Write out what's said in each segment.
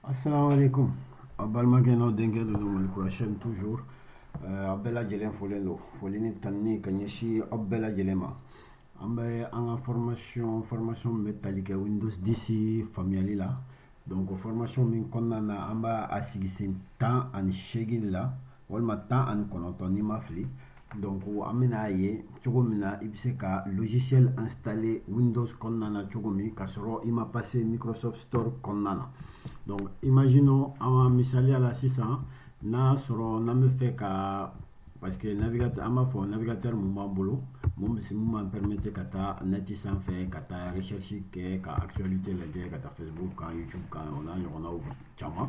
Assalamu alaikum. Aw balimakɛ n'aw denkɛ don don Malikura chaîne toujours euh, a bɛɛ lajɛlen folen don foli ni tanuni ka ɲɛsin aw bɛɛ lajɛlen ma an bɛ an ka formation formation min bɛ tali kɛ Windows 10 faamuyali la donc formation min kɔnɔna na an bɛ a sigi sen tan ani seegin de la walima tan ani kɔnɔntɔn ni n ma fili donc an bɛna ye cogo min na i bɛ se ka logiciel installer Windows kɔnɔna na cogo min k'a sɔrɔ i ma passer Microsoft Store kɔnɔna na donc imaginons an ka misaliya la sisan n'a sɔrɔ n'an bɛ fɛ ka parce que navigateur an b'a fɔ navigateur mun b'an bolo mun bɛ mun b'an permettre ka taa net sanfɛ ka taa recherche kɛ ka actualité lajɛ ka taa Facebook kan YouTube kan o n'a ɲɔgɔnnaw caman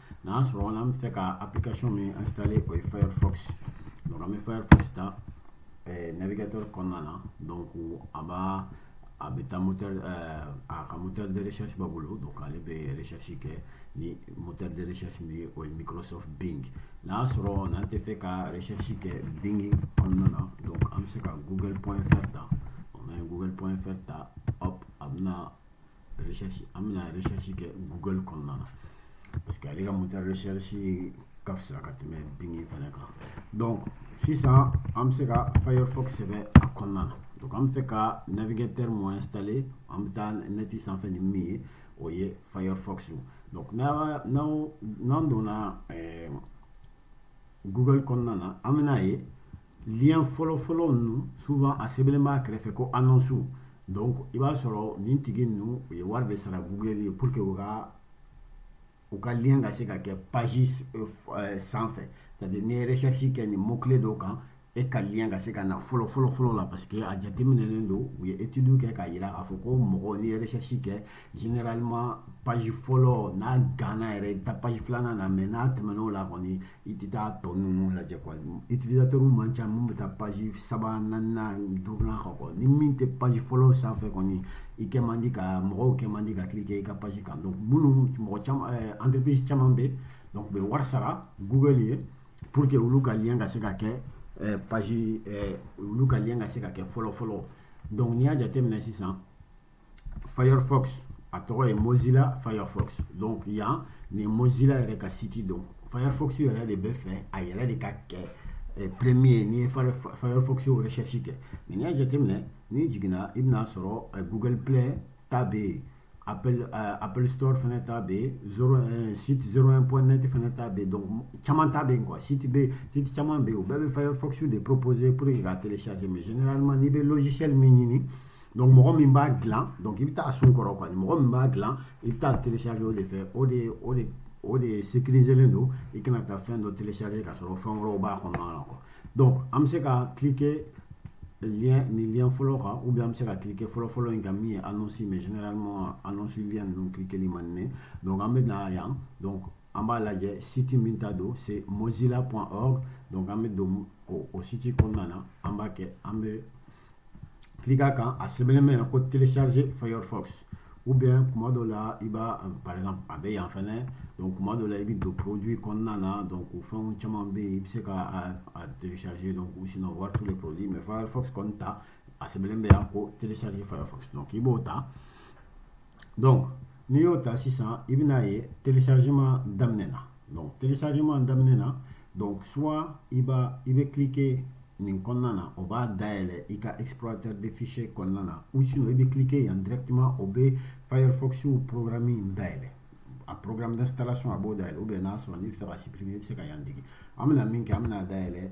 N'a sɔrɔ an bɛ fɛ ka application min installer o ye Firefox donc an bɛ Firefox ta eh, navigateur kɔnɔna na donc a b'a a bɛ taa moteur eh, a ka moteur de recherche b'a bolo donc ale bɛ recherche kɛ ni moteur de recherche min ye o ye Microsoft Bing n'a sɔrɔ n'an tɛ fɛ ka recherche kɛ Bing kɔnɔna na donc an bɛ se ka google.fr ta n'an ye google.fr ta hop a bɛna recherche an bɛna recherche kɛ Google kɔnɔna na parce que ale ka moteur recherche ka fisa ka tɛmɛ Bing fana kan donc sisan an bɛ se ka Firefox sɛbɛn a kɔnɔna na donc an bɛ fɛ ka navigateur mun installer an bɛ taa net sanfɛ ni min ye o ye Firefox donc n'an n'an n'an donna ɛɛ Google kɔnɔna na an bɛna ye lien fɔlɔfɔlɔ ninnu souvent a sɛbɛnlen b'a kɛrɛfɛ ko annonce donc i b'a sɔrɔ nin tigi ninnu u ye wari de sara google ye pour que u ka u ka lien ka se ka kɛ page euh, euh, sanfɛ c'est à dire n'i ye recherche kɛ nin mot clé dɔw kan e ka lien ka se ka na fɔlɔ fɔlɔ fɔlɔ la parce que a jateminɛlen don u ye étude kɛ k'a yira k'a fɔ ko mɔgɔ n'i ye recherche kɛ généralement page fɔlɔ n'a ganna yɛrɛ i bɛ taa page filanan na mais n'a tɛmɛn'o la kɔni i tɛ taa tɔ ninnu lajɛ quoi utilisateur man ca minnu bɛ taa page saba naaninan duurunan kan quoi ni min tɛ page fɔlɔ sanfɛ kɔni i kɛ man di ka mɔgɔw kɛ man di ka cliquer i ka page kan donc minnu mɔgɔ caman eh, entreprise caman bɛ donc u bɛ wari sara google ye pour que olu ka lien ka se ka kɛ eh, page eh, olu ka lien ka se ka kɛ fɔlɔ fɔlɔ donc n'i y'a jateminɛ sisan firefox a tɔgɔ ye mozilla firefox donc yan nin mozilla yɛrɛ ka site donc firefox yɛrɛ de bɛ fɛ a yɛrɛ de ka kɛ eh, premier n'i ye firefox recherche kɛ mais n'i y'a jateminɛ n'i jiginna i bɛna sɔrɔ eh, google play ta bɛ yen Apple, euh, Apple Store fana ta bɛ yen zero euh, site 01.net fana ta bɛ yen donc caman ta bɛ yen quoi site bɛ site caman bɛ yen u bɛɛ bɛ Firefox de proposer pour que ka télécharger mais généralement n'i bɛ logiciel min ɲini donc mɔgɔ min b'a dilan donc i bɛ taa sun kɔrɔ quoi mɔgɔ min b'a dilan i bɛ taa télécharger o de fɛ o de o de o de sécuriselen don i kana taa fɛn dɔ télécharger ka sɔrɔ fɛn wɛrɛw b'a kɔnɔna na quoi donc an bɛ se ka cliquer lien nin lien fɔlɔ kan ou bien an bɛ se ka cliquer fɔlɔ fɔlɔ in kan min ye annonce mais généralement annonce lien ninnu cliqueli man di ne donc an bɛ na yan donc an b'a lajɛ site min ta don c'est mozilla.org donc an bɛ don o, o site kɔnɔna na an b'a kɛ an bɛ cliquer a kan a sɛbɛnlen bɛ yan ko télécharger firefox ou bien kuma dɔ la i b'a par exemple a bɛ yan fɛnɛ donc kuma dɔ la i bɛ don produit kɔnɔna na donc o fɛnw caman bɛ yen i bɛ se ka a télécharger donc ou sinon voir tous les produits mais firefox kɔni ta a sɛbɛnlen bɛ yan ko télécharger firefox donc i b'o ta donc n'i y'o ta sisan i bɛna ye téléchargement daminɛna donc téléchargement daminɛna donc soit i b'a i bɛ cliquer nin kɔnɔna na o b'a dayɛlɛ i ka explorateur de fichier kɔnɔna na ou sinon i bɛ cliquer yan directement o bɛ Firefox programme in dayɛlɛ a programme d'installation a b'o dayɛlɛ ou bien n'a sɔrɔ n'i bɛ fɛ ka supprimer i bɛ se ka yan digi an bɛna min kɛ an bɛna dayɛlɛ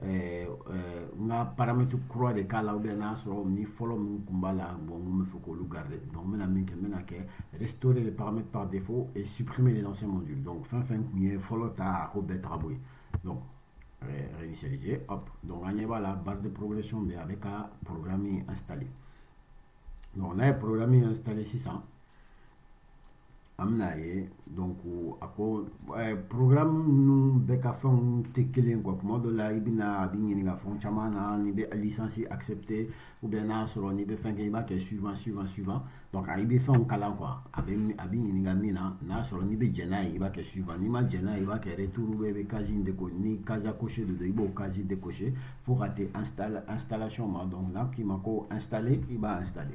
ɛɛ n ka paramètre kura de k'a la ou bien n'a sɔrɔ ni fɔlɔ min kun b'a la bon n bɛ fɛ k'olu garder donc n bɛna min kɛ n bɛna kɛ restaurer les paramètres par défaut et supprimer les anciens modules donc fɛn fɛn kun ye fɔlɔ ta a k'o bɛɛ ta k'a bɔ yen donc réinitialiser hop donc an ɲɛ b'a la barre de progression bɛ a bɛ ka programme installer donc n'a ye programme installer sisan An bɛna a ye dɔn ko a ko porola minnu bɛ ka fɛnw tɛ kelen kɔ tuma dɔ la i bɛ a bɛ ɲini ka fɛn caman na ni bɛ alisansi asɛpte u bɛn n'a sɔrɔ ni bɛ fɛn kɛ i b'a kɛ suyfa suyfa suyfa i bɛ fɛnw kalan qu a bɛ ɲininka min na n'a sɔrɔ n'i bɛ jɛnɛ ye i b'a kɛ suyfa n'i ma jɛnɛ i b'a kɛ t bɛ bɛ ka de ko ni kakosi de don i b'o kasi de kosi fo ka ansala antalasiyɔn ma dɔn k'i ma ko ansalen i b'atali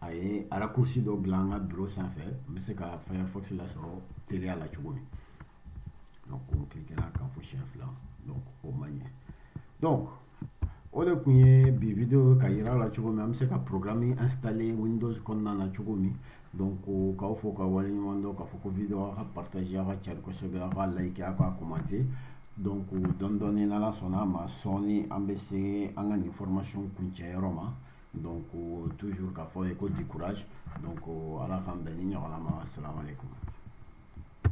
a ye raccourci dɔ bila an ka bureau sanfɛ n bɛ se ka firefox lasɔrɔ teliya la cogo min donc an cliquera a kan fo siɲɛ fila donc o man ɲɛ donc o de kun ye bi video ka yira la cogo min an bɛ se ka programme installer windows kɔnɔna na cogo min donc k'aw fo ka wale ɲuman dɔn k'a fɔ ko video aw ka partager aw ka cari kosɛbɛ aw ka like aw ka commenter donc dɔɔni dɔɔni n'ala sɔnna a ma sɔɔni an bɛ se an ka nin formation kuncɛ yɔrɔ ma Don ko tu ka fɔ ye ko dikura don ko ala k'an bɛn ni ɲɔgɔn ma siran kɔnɔ